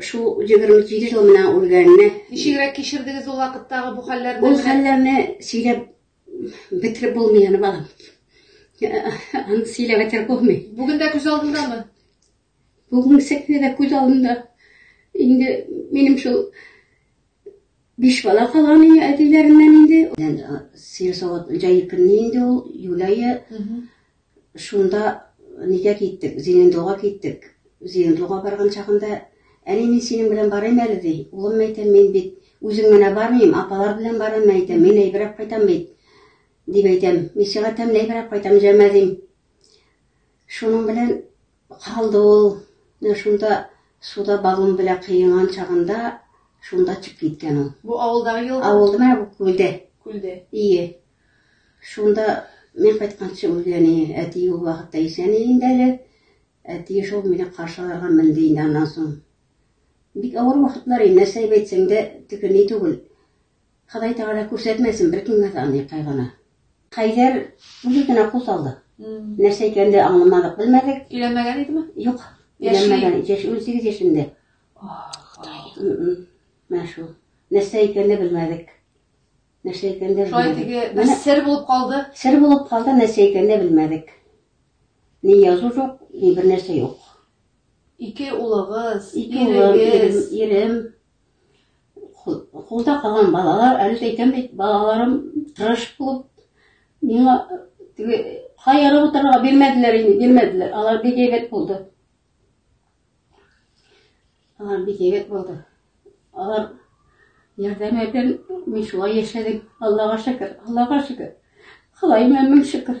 Шул 27 ел менә үлгәненә. Ничегрәк кичердегез ул вакыттагы бу хәлләрне? Ул хәлләрне сөйләп бетереп булмый аны балам. Аны сөйләп бетереп булмый. Бүген дә күз алдындамы? Бүген сәкне дә күз алдында. Инде минем шул биш бала калган иде әтиләреннән инде. Сыер савыт җәй көнне инде ул Юләе. Шунда нигә киттек? Зенендога киттек. Зенендога барган чагында, Әни, мин синең белән барыйм әле, ди. Улым, әйтәм, мин бит үзең менә бармыйм, апалар белән барам, әйтәм, мин әйберәк кайтам бит, дип әйтәм. Мин сиңа тәмле әйберәк кайтам, җәмә, дим. Шуның белән калды ул. Шунда суда баллон белән кыенган чагында, шунда чыгып киткән ул. Бу авылдагы елга? Авылда, менә бу күлдә. Күлдә. Ие. Шунда мин кайтканчы ул әни, әти ул вакытта исән инде әле. Әти шул мине каршы алырга менде инде аннан соң. Бик авыр вакытлар инде, нәрсә әйтсәң дә төгәл ни түгел. Ходай Тәгалә күрсәтмәсен беркемгә дә аны кайгыны. Хәйдәр үзе генә кул салды. Нәрсә икәнен дә аңламадык, белмәдек. Өйләнмәгән идеме? Юк. Яши. Өйләнмәгән. Яшь 18 яшендә. Ах, Ходай. Менә шул. Нәрсә икәнен дә белмәдек. Нәрсә икәнен дә Шулай теге бер Менә сер булып калды. сер булып калды, нәрсә икәнен дә белмәдек. Ни язу юк, ни бер нәрсә юк. Ике улыгыз, Ике улым, ирегез. ирем, ирем, ху- хулда калган балалар, әле дә әйтәм бит, балаларым тырыш булып, миңа теге каерып утырырга бирмәделәр инде, бирмәделәр. Алар бик әйбәт булды. Алар бик егет булды. Алар ярдәм итеп, мин шулай яшәдем. Аллага шөкер, Аллага шөкер. Ходаема мең шөкер.